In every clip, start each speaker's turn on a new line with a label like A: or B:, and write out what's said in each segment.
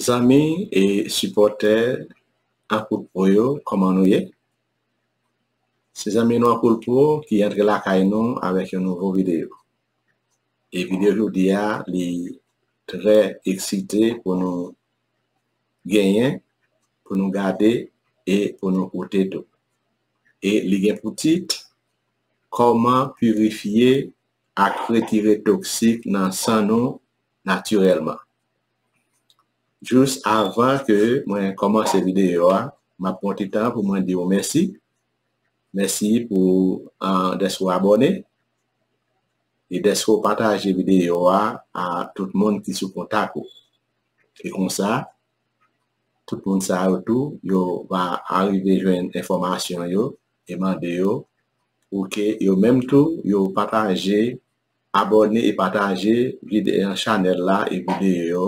A: Zanmi e sipòtè Akoutpro yo, kòman nou ye? Se zanmi nou Akoulpro ki antre lakay nou avèk yon nouvo videyo. E videyo jodi a li trè eksite pou nou genyen, pou nou gade e pou nou koute tou. E li gen pou tit, Kòman pirifye ak retire toksik nan san nou natirèlman. Jis avan ke mwen kòmanse videyo a, m ap pran ti tan pou mwen di ou mèsi. Mèsi pou dèske ou abòne e dèske ou pataje videyo a a tout moun ki sou kontak ou. E konsa, tout moun sa yo tou, yo va arive jwenn enfòmasyon yo e mande yo pou ke yo menm tou yo pataje Abòne e pataje vide an chanèl la e videyo yo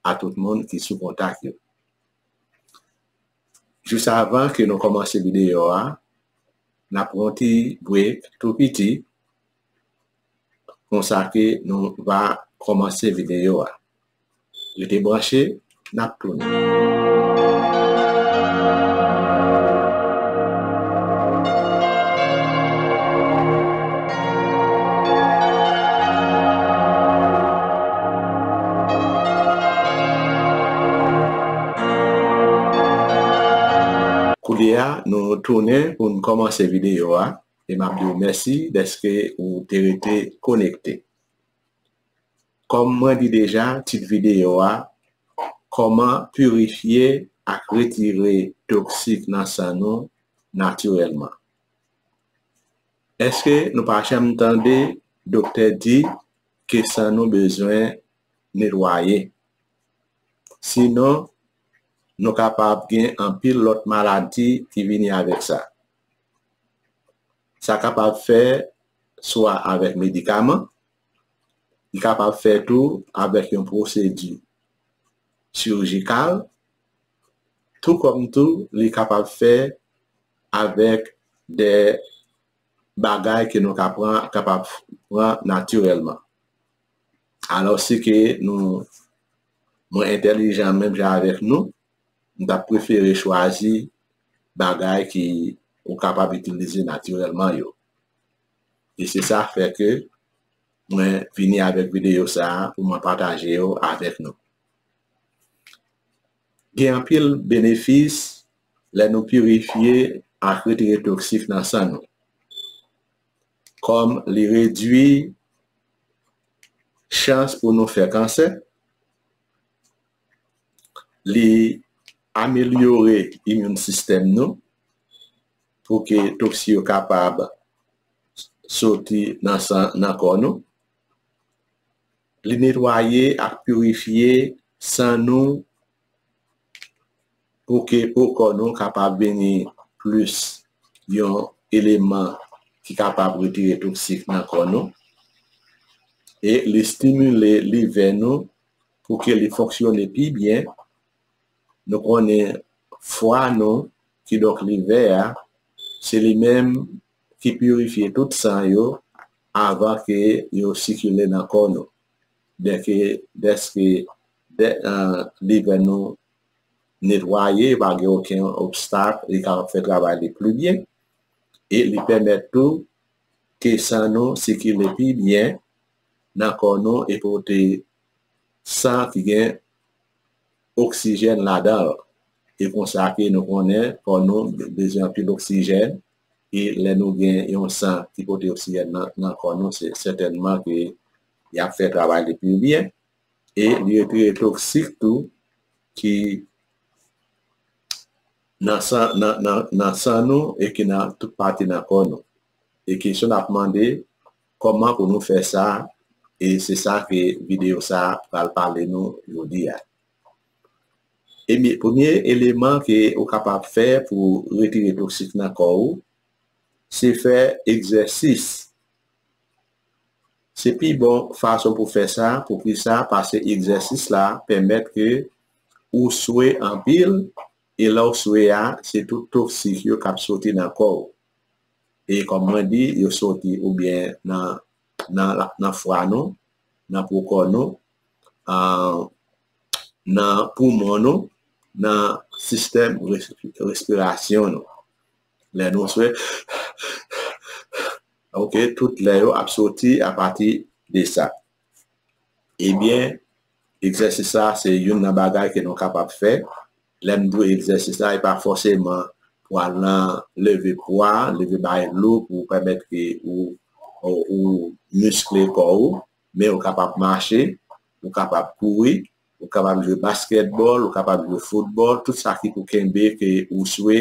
A: a tout moun ki sou kontak yo. Jis avan ke nou kòmanse videyo a, n ap pran yon ti break tou piti konsa ke nou va kòmanse videyo a. Rete branche, n ap tounen. Koulye a, nou tounen pou n kòmanse videyo a e m ap di w mèsi dèske ou te rete konekte. Kòm mwen di deja tit videyo a Kòman pirifye ak retire toksik nan san nou natirèlman. Eske nou pa janm tande doktè di ke san nou bezwen netwaye? Sinon nou kapab gen anpil lòt maladi ki vini avèk sa. Sa kapab fè swa avèk medikaman, Li kapab fè tou avèk yon pwosedi chirijikal, tou kòm tou li kapab fè avèk de bagay ke nou ka pran, kapab pran natirèlman. Alò si ke nou, mwen entèlijan menm jan avèk nou, m ta prefere chwazi bagay ki ou kapab itilize natirèlman yo. e se sa fè ke mwen vini avèk videyo sa pou mwen pataje yo avèk nou. Gen anpil benefis lè nou pirifye ak retire toksik nan san nou. Kòm li redwi chans pou nou fè kansè, li amelyore immune system nou, pou ke toksi yo kapab soti nan san nan kò nou. Li netwaye ak pirifye san nou pou ke po kò nou kapab vini plis yon eleman ki kapab retire toksik nan kò nou. E li stimile livè nou pou ke li fonksyone pi byen Nou konnen fwa nou, kidonk livè a, se li menm ki pirifye tout san yo avan ke yo sikile nan kò nou. Dèke, dèske livè nou netwaye, pa gen oken obstak, li kapab fè travay li pli byen, e li pèmèt tou ke san nou sikile pi byen nan kò nou e pote san ki gen oksijèn ladan l. E konsa ke nou konnen kò nou bezwen anpil oksijèn e lè nou gen yon san ki pote oksijèn nan kò nou se sètènman ke y ap fè travay li pi byen e li retire toksik tou ki nan san nou e ki nan tout pati nan kò nou. E kesyon n ap mande. Kòman pou nou fè sa e se sa ke videyo sa a pral pale nou jodi a. Ebyen premye eleman ke ou kapab fè pou retire toksik nan kò ou se fè egzèsis. Se pi bon fason pou fè sa, poukisa paske egzèsis la pèmèt ke ou swe anpil e lè ou swe a se tout toksik yo kap soti nan kò ou. e kòm mwen di yo soti oubyen nan fwa nou, nan pokò nou, nan poumon nou, nan sistèm respirasyon nou. Lè nou swe, ok, tout lè yo ap soti apati de sa. Ebyen, egzèsis sa a se youn nan bagay ke nou kapab fè. Lè nou di egzèsis la, e pa fòseman pou al nan leve pwa, leve bagay lou pou pèmèt ke ou miskle kò ou. Men, ou kapab mache, ou kapab kouri, ou kapab jwe baskètbòl, ou kapab jwe foutbòl, tout sa ki pou kenbe ke ou swe,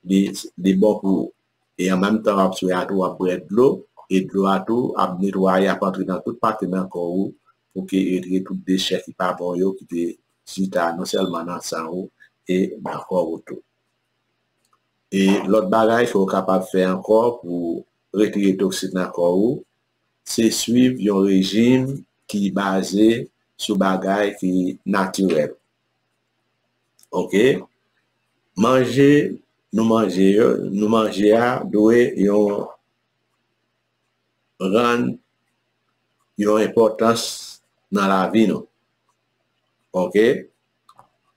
A: li bon pou ou. e an menm tan wap swe a tou wap bwè dlo e dlo a tou ap netwaye ap antre nan tout pati nan kò ou pou ke etre tout dechè ki pa bon yo ki te chita non sèlman nan san ou e nan kò ou tou. E lòt bagay ke ou kapab fè ankò pou retire toksin nan kò ou se swiv yon rejim ki baze sou bagay ki natirèl. Ok, manje nou manje yo, nou manje a dwe yon rann yon enpòtans nan lavi nou. Ok,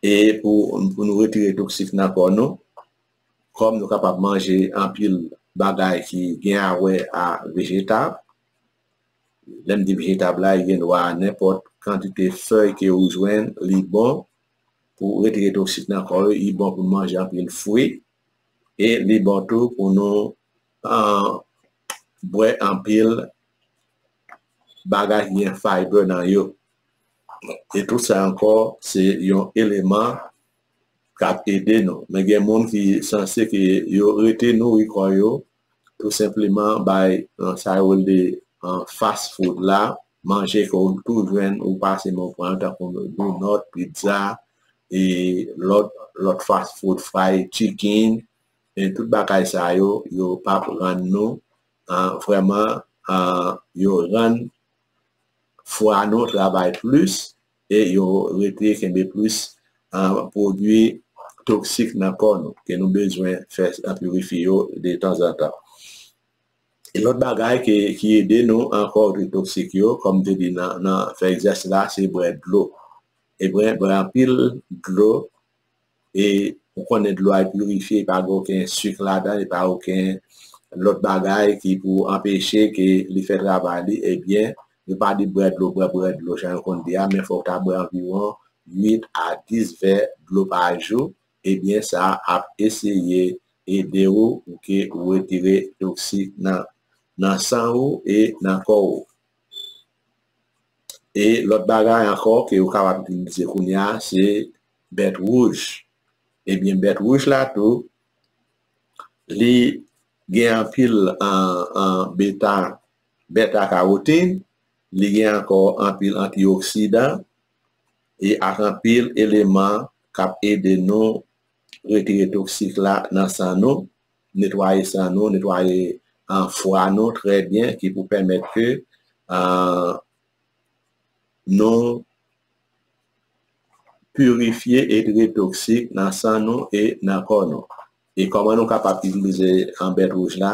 A: e pou nou retire toksik nan kò nou, kòm nou kapab manje anpil bagay ki gen a wè a vejetab, Lèm di vejetab la li gen dwa a nenpòt kantite fèy ke ou jwenn li bon pou retire toksik nan kò ou, li bon pou manje anpil fwi e li bon tou pou nou bwè anpil bagay ki gen faybe nan yo e tout sa ankò se yon eleman kap ede nou men gen moun ki sanse ke yo rete nouri kò yo tou senpleman bay sa yo rele fast food la, manje ke ou tou jwenn ou pase men w pran tankou donòt, pizza e lòt fast food, fry chicken e tout bagay sa yo, yo pa p rann nou vrèman, yo rann fwa nou travay plis. e yo rete kenbe plis pwodui toksik nan kò nou ke nou bezwen fè pirifye yo de tanzantan. Yon lòt bagay ki ede nou ankò de toksik yo, kòm m te di nan fè egzèsis la, se bwè dlo. Bwè anpil dlo. e ou konnen dlo a pirifye li pa gen oken sik ladan li pa oken lòt bagay ki pou anpeche ke li fè travay li ebyen yo pa di bwè dlo bwè bwè dlo jan yo konn di a men fòk ta bwè anviwon 8 a 10 vè dlo pa jou ebyen sa ap eseye ede ou pou ke ou retire toksik nan nan san ou e nan kò ou e lòt bagay ankò ke ou kapab itilize kounya se bèt wouj ebyen bèt wouj la tou li gen anpil beta bèta kawotin li gen ankò anpil antioksidan e ak anpil eleman kap ede nou retire toksik la nan san nou netwaye san nou netwaye fwa nou trè byen ki pou pèmèt ke nou pirifye e trete toksik nan san nou e nan kò nou. E kòman nou kapab itilize bèt wouj la,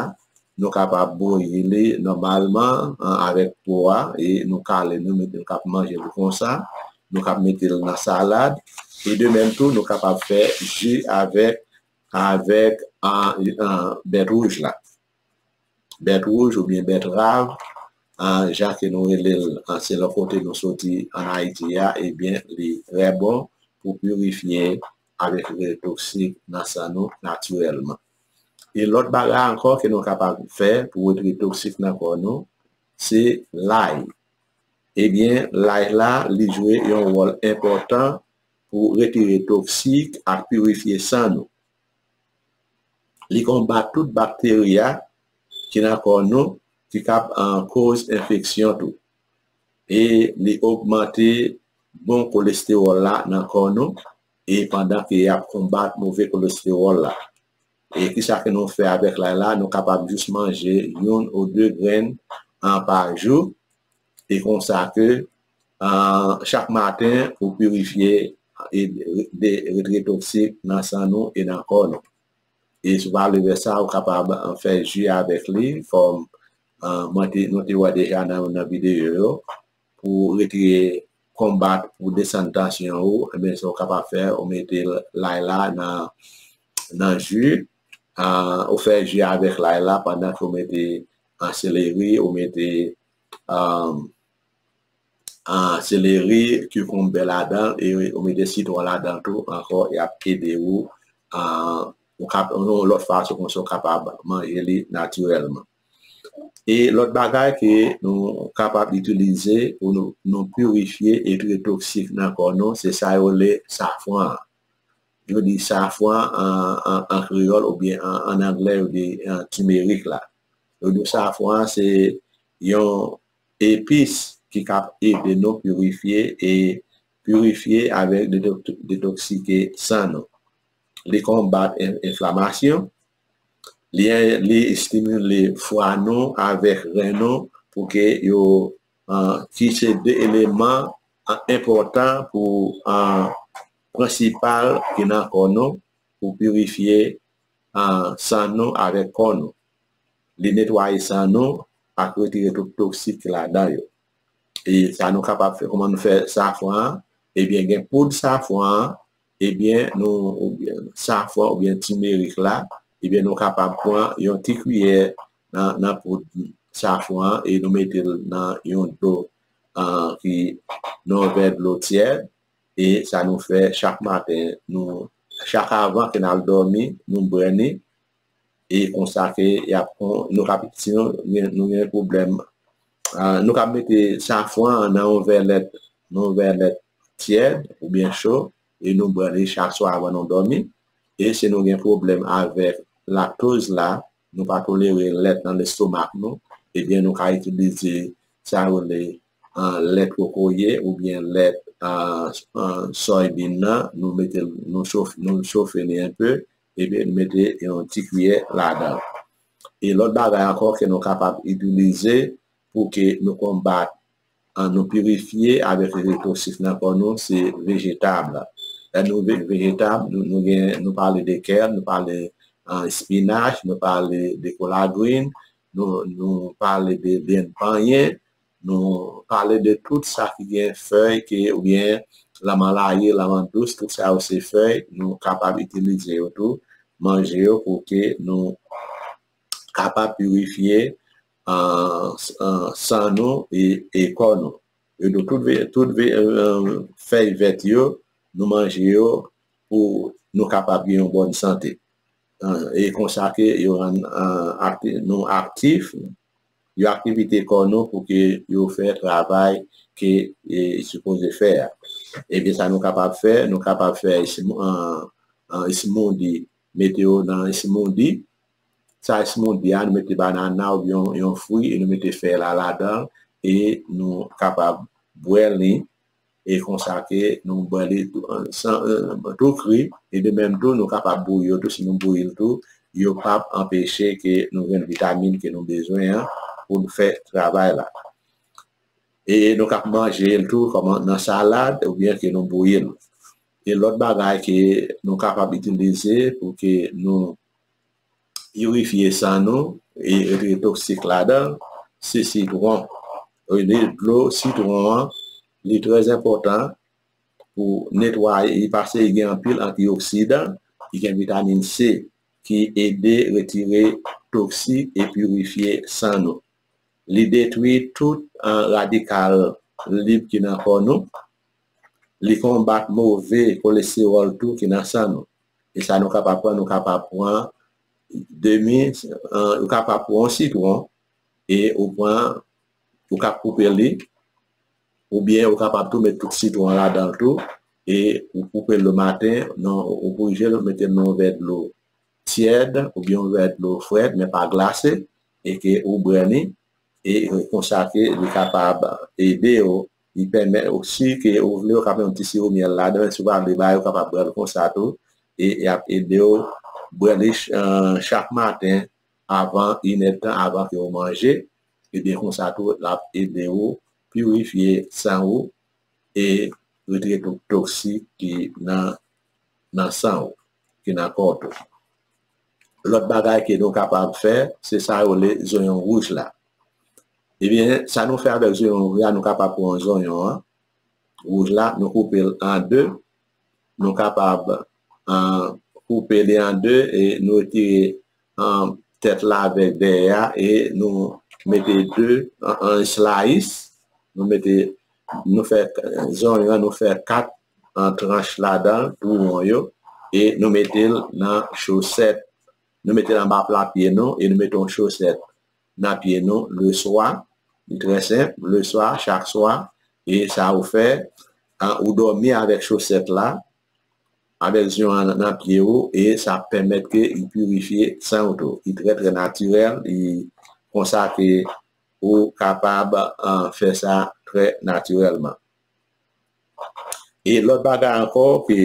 A: nou kapab bouyi li nòmalman avèk po a e nou kale nou mete l kap manje l konsa, nou kab mete l nan salad e de menm tou nou kapab fè ji avèk bèt wouj la. bèt wouj oubyen bèt rav jan ke nou rele l selon kote nou soti an Ayiti a ebyen li trè bon pou pirifye avèk le toksik nan san nou natirèlman. E lòt bagay ankò ke nou kapab fè pou wete toksik nan kò nou se lay ebyen lay la li jwe yon wòl enpòtan pou retire toksik ak pirifye san nou. Li konbat tout bakteri a ki nan kò nou ki kab koz enfeksyon tou. E li ogmante bon kolestewòl la nan kò nou e pandan ke yap konbat move kolestewòl la. E kisa ke nou fè avèk lay la, nou kapab jis manje youn ou de grenn pa jou. E konsa ke chak maten ou pirifye de retre toksik nan san nou e nan kò nou. E sou pa levè sa ou kapab fè ji avèk li kòm nou te wè deja nan videyo yo pou retire konbat pou desann tansyon ou ebyen sa ou kapab fè ou mete lay la nan ji ou fè ji avèk lay la pandan ke ou mete seleri ou mete seleri, kikonbe ladan e ou mete sitwon ladan tou ankò y ap ede ou yon lòt fason konsa ou kapab manje li natirèlman. E lòt bagay ke nou kapab itilize pou nou pirifye e trete toksik nan kò nou se sa yo rele safran an. Yo di safran an kreyòl oubyen an angle yo di timerik la. Lodyo safran an se yon epis ki ka ede nou pirifye e pirifye avèk detoksike san nou. Li konbat enflamasyon, li estimile fwa nou avèk ren nou pou ke yo ki se 2 eleman enpòtan pou an prensipal ki nan kò nou pou pirifye san nou avèk kò nou. Li netwaye san nou ak retire tout toksik ki ladan yo. E sa nou kapab fè, kouman nou fè safran an, ebyen gen poud safran an, ebyen nou safran oubyen timerik la, ebyen nou kapab pran yon ti kwiyè nan poud safran an e nou mete l nan yon dlo ki nan yon vè dlo tyèd. e sa nou fè chak maten nou chak avan ke nal dòmi nou bwè li e konsa ke yap nou kap si nou gen pwoblèm nou kap mete safran nan yon vè lèt nan yon vè lèt tyèd oubyen cho e nou bwè li chak swa avan nou dòmi e si nou gen pwoblèm avèk laktoz la nou pa tolere lèt nan lestomak nou, ebyen nou ka itilize sa yo rele lèt kokoye oubyen lèt soybin nan, nou mete l, nou chofe li enpe epi nou mete yon ti kiyè ladan l. E lòt bagay ankò ke nou kapab itilize pou ke nou konbat An nou pirifye avèk leve posif nan kò nou se vejetab. Lè nou vin vejetab, nou gen, nou pale de kè, nou pale espinach, nou pale de kolagrin, nou pale de vyann panyen, nou pale de tout sa ki gen fèy ke oubyen lanman laye, lanman dous, tout sa yo se fèy, nou kapab itilize yo tou, manje yo pou ke nou kapab pirifye san nou e kò nou. E nou tout veye tout fèy vèt yo nou manje yo pou nou kapab gen yon bòn sante. E konsa ke yo rann nou aktif, yo aktivite kò nou pou ke yo fè travay ke e sipoze fè a. E ki sa nou kapab fè? Nou kapab fè esmoudi, mete yo nan esmoudi sa esmondi a nou mete banana oubyen yon fwi e nou mete fèy la ladan e nou kapab bwè li e konsa ke nou bwè li tou kri e de menm tou nou kapab bouyi yo tou si nou bouyi l tou yo pap anpeche ke nou jwenn vitamin ke nou bezwen an pou nou fè travay la e nou kab manje l tou kòman nan salad oubyen ke nou bouyi l e lòt bagay ke nou kapab itilize pou ke nou pirifye san nou e retire toksik ladan se sitwon rele dlo sitwon an li trè enpòtan pou netwaye li pase gen anpil antioksidan ki gen vitamin C ki ede retire toksik e pirifye san nou li detwi tout radikal lib ki nan kò nou li konbat move kolestewòl tou ki nan san nou. E sa nou kapab pran, nou kapab pran demi, ou kapab pran yon sitwon e ou pran, ou kap koupe li, ou byen ou kapab tou met tout sitwon la dan tou e ou koupe l le maten, nan ou bouje l, mete l nan yon vè dlo tyèd ou byen yon vè dlo frèt men pa glase e ke ou bwè li e konsa ke li kapab ede ou. Li pèmèt ou si ke ou vle ou ka fè yon ti siwo myèl ladan si ou pa vle bay ou kapab bwèl konsa tou e yap edew bwè li chak maten avan inèdtan avan ke ou manje ebyen konsa tou lap ede ou pirifye san ou e retire tout toksik ki nan nan san ou ki nan kòw tou. Lòt bagay ke nou kapab fè, se sa yo rele zonyon wouj la. Ebyen, sa nou fè avèk zonyon wouj la, nou kapab pran zonyon an, wouj la, nou koupe l an 2, nou kapab koupe li an 2 e nou retire tèt la avèk dèyè a e nou mete 2 an eslayis, nou mete, nou fè zonyon an, nou fè 4 an tranch ladan tou won yo e nou mete l nan chosèt nou mete l anba pla pye nou e nou mete yon chosèt nan pye nou leswa li trè senp leswa chak swa e sa ou fè ou dòmi avèk chosèt la avèk zyon an nan pye ou e sa ap pèmèt ke li pirifye san ou tou li trè trè natirèl li konsa ke ou kapab fè sa trè natirèlman. E lòt bagay ankò ke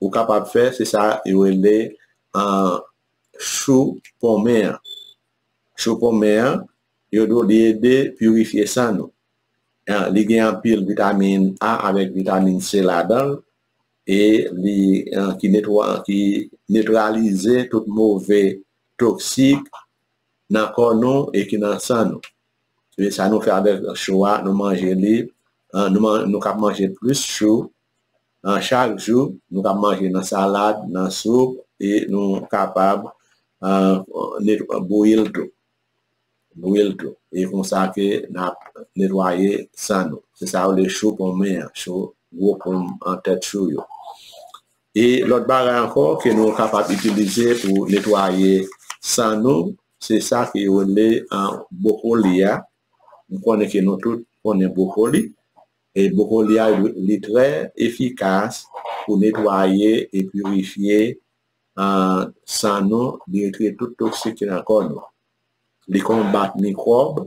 A: ou kapab fè se sa yo rele chou ponmen an. Chou ponmen an, yo di w li ede pirifye san nou. Li gen anpil vitamin A avèk vitamin C ladan l e li netralize tout move toksik nan kò nou e ki nan san nou. e sa nou fè avèk chou a nou manje li nou kab manje plis chou chak jou nou kab manje nan salad nan soup e nou kapab bouyi l tou bouyi l tou e konsa ke na netwaye san nou se sa yo rele chou ponmè chou gwo ponm an tèt chou yo E lòt bagay ankò ke nou kapab itilize pou netwaye san nou, se sa ke yo rele bwokoli a. M konnen ke nou tout konnen bwokoli. E bwokoli a, li trè efikas pou netwaye e pirifye san nou, li retire tout toksik ki nan kò nou. Li konbat mikwòb,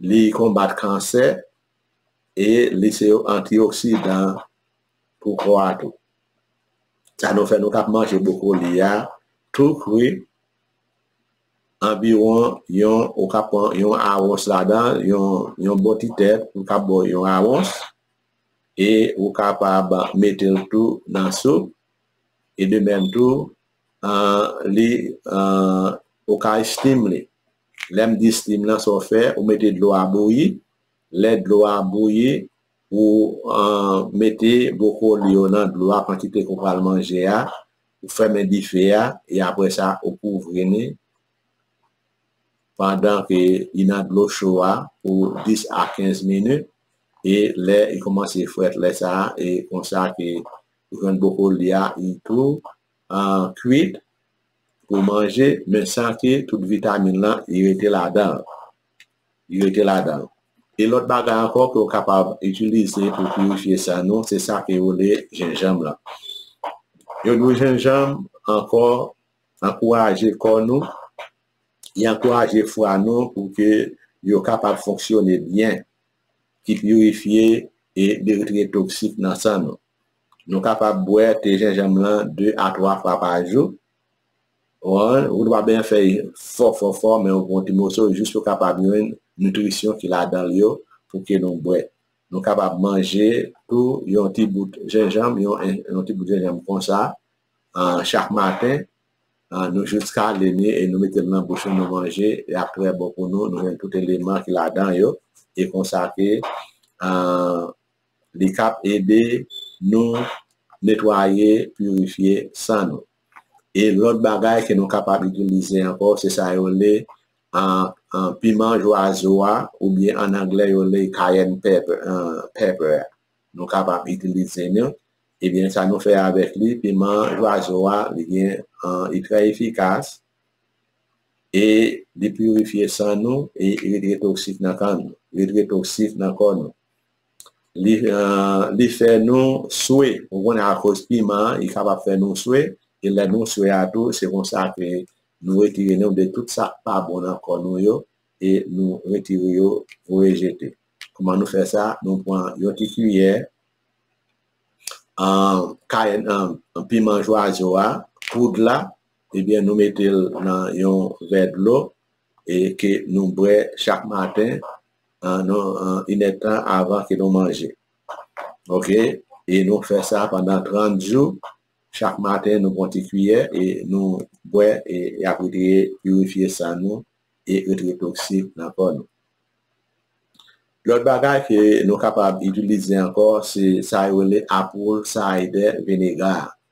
A: li konbat kansè, e li se yon antioksidan. pou kò a tou. Sa nou fè nou kab manje bwokoli a tou kri anviwon yon ou kab pran yon awons ladan yon bon ti tèt ou kab pran yon awons e ou kapab mete l tou nan soup e de menm tou li ou ka estim li. Lè m di estim lan sa w fè ou mete dlo a bouyi lè dlo a bouyi Ou mete bwokoli yo nan dlo a kantite ke w pral manje a, ou fèmen dife a e apre sa ou kouvri ni pandan ke li nan dlo cho a pou 10 a 15 minit e lè li kòmanse frèt lè sa a e konsa ke ou jwenn bwokoli a li tou kwit pou manje men san ke tout vitamin lan li rete ladan l. li rete ladan l. E lòt bagay ankò ke ou kapab itilize pou pirifye san nou se sa ke yo rele jenjanm lan. Yo di w jenjanm ankò ankouraje kò nou, li ankouraje fwa nou pou ke yo kapab fonksyone byen, ki pirifye e li retire toksik nan san nou. Nou kapab bwè te jenjanm lan 2 a 3 fwa pa jou. Wan, ou dwa benyen fèy fò fò fò men ou pran ti moso jis pou kapab jwenn nitrisyon ki ladan l yo pou ke nou bwè. Nou kapab manje tou yon ti bout jenjanm, yon ti bout jenjanm konsa chak maten, nou jis kale li e nou mete l nan bouch nou, nou manje, li ap trè bon pou nou, nou jwenn tout eleman ki ladan yo e konsa ke. Li kap ede nou netwaye, pirifye san nou. E lòt bagay ke nou kapab itilize ankò se sa yo rele piman jwazo a oubyen an anglè yo rele cayenne pepper a. Nou kapab itilize li. Ebyen sa nou fè avèk li, piman jwazo a li gen, li trè efikas e li pirifye san nou e li retire toksik nan kan nou, retire toksik nan kò nou. li fè nou swe ou konnen akoz piman an li kapab fè nou swe e lè nou swe a tou se konsa ke nou retire nou de tout sa ki pa bon nan kò nou yo e nou retire yo voye jete kouman nou fè sa nou pran yon ti kiyè kayenn piman jwazo a poud la ebyen nou mete l nan yon vè dlo e ke nou bwè chak maten an nou inèdtan avan ke nou manje ok e nou fè sa pandan 30 jou chak maten nou pran ti kiyè e nou bwè e yap retire pirifye san nou e retire toksik nan kò nou lòt bagay ke nou kapab itilize ankò se sa yo rele apwol sayde vinega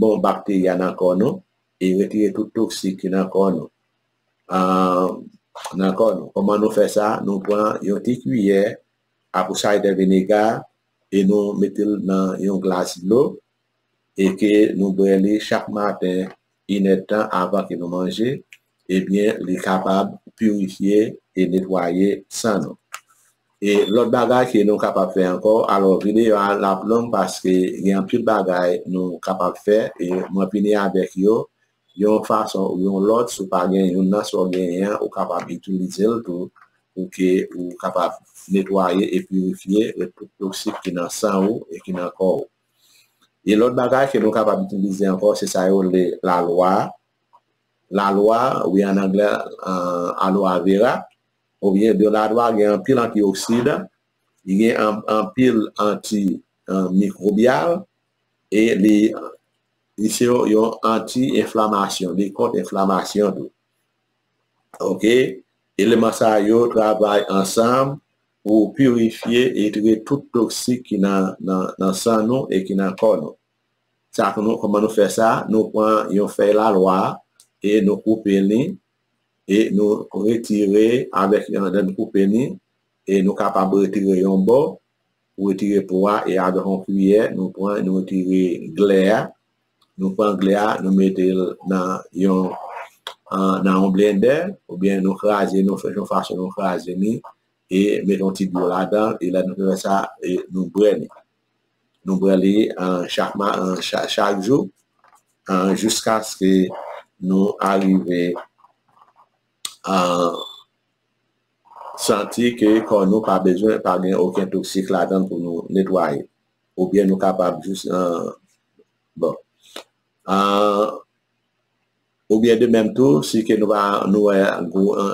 A: bon bakteri a nan kò nou e retire tout toksik ki nan kò nou nan kò nou kòman nou fè sa nou pran yon ti kiyè apple cider vinegar e nou mete l nan yon glas dlo e ke nou bwè li chak maten inèdtan avan ke nou manje. ebyen li kapab pirifye e netwaye san nou. E lòt bagay ke nou kapab fè ankò, alò videyo a lap long paske gen anpil bagay nou kapab fè e mwen vini avèk yo yon fason ou yon lòt si w pa gen youn nan sa w genyen an ou kapab itilize l tou pou ke ou kapab netwaye e pirifye tout toksik ki nan san ou e ki nan kò ou. E lòt bagay ke nou kapab itilize ankò se sa yo rele lalwa. la lwa wi an anglè aloa vera oubyen de la lwa gen anpil antioksidan li gen anpil anti mikrobyal e li li se yon anti enflamasyon li kont enflamasyon tou ok eleman sa yo travay ansanm pou pirifye e trete tout toksik ki nan san nou e ki nan kò nou. Sa nou, kòman nou fè sa? Nou pran yon fèy lalwa a, e nou koupe li, e nou retire avèk yon dan nou koupe li, e nou kapab retire yon bò, ou retire po a, e avèk yon kiyè nou pran, nou retire glè a, nou pran glè a, nou mete l nan yon, nan yon blendè, oubyen nou kraze, nou fè yon fason nou kraze li, e mete yon ti dlo ladan l, e lè nou fin fè sa, e nou bwè li. Nou prale chak jou jiskaske nou arive santi ke kò nou pa bezwen, pa gen oken toksik ladan l pou nou netwaye. Oubyen nou kapab jis, bon. Ou byen de menm tou, si ke nou pa, nou wè,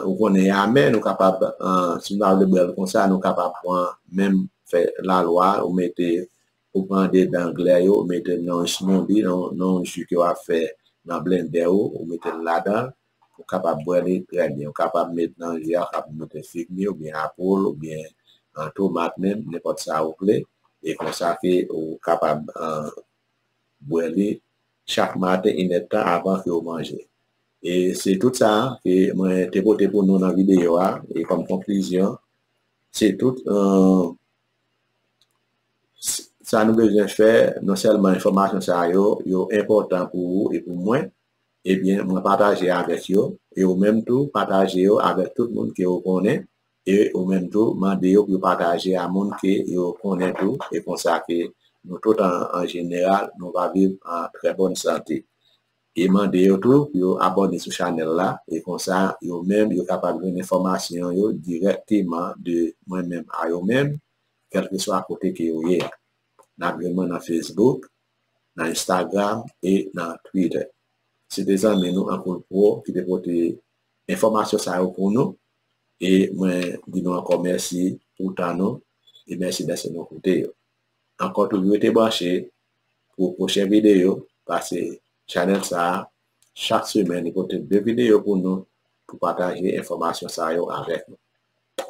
A: ou konnen yame, nou kapab, si nou pa vle bwè l konsa, nou kapab pran menm fè lalwa ou mete, ou pran de dan glè yo, ou mete nan yon smoothie, nan yon ji ke w ap fè nan blendè ou, ou mete l ladan l, ou kapab bwè li trè byen. Ou kapab met nan ji a, ou kapab mete fig mi ou byen apwòl ou byen tomat menm, nenpòt sa ou vle, e konsa ke ou kapab. bwè li chak maten inèdtan avan ke ou manje. E se tout sa ke mwen te pote pou nou nan videyo a, e kòm konklizyon, se tout sa nou bezwen fè, non sèlman enfòmasyon sa yo, yo enpòtan pou ou e pou mwen, ebyen mwen pataje avèk yo, e ou menm tou pataje yo avèk tout moun ke ou konnen, E ou menm tou, mande yo pou yo pataje a moun ke yo konnen tou, e konsa ke nou tout an jeneral nou va viv an trè bòn sante. E mande yo tou pou yo abòne sou chanèl la, e konsa yo menm yo kapab jwenn enfòmasyon yo dirèkteman de mwen menm a yo menm, kèlkeswa kote ke yo ye a. Nap jwenn mwen nan Facebook, nan Instagram, e nan Twitter. Se te zanmi nou Ankoul Pro ki te pote enfòmasyon sa yo pou nou. E mwen di nou ankò mèsi pou tan nou e mèsi dèske nou koute yo. Ankò toujou rete branche pou pwochen videyo paske chanèl sa a chak semèn li pote 2 videyo pou nou pou pataje enfòmasyon sa yo avèk nou.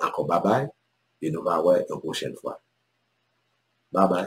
A: Ankò babay e nou va wè yon pwochen fwa. Babay!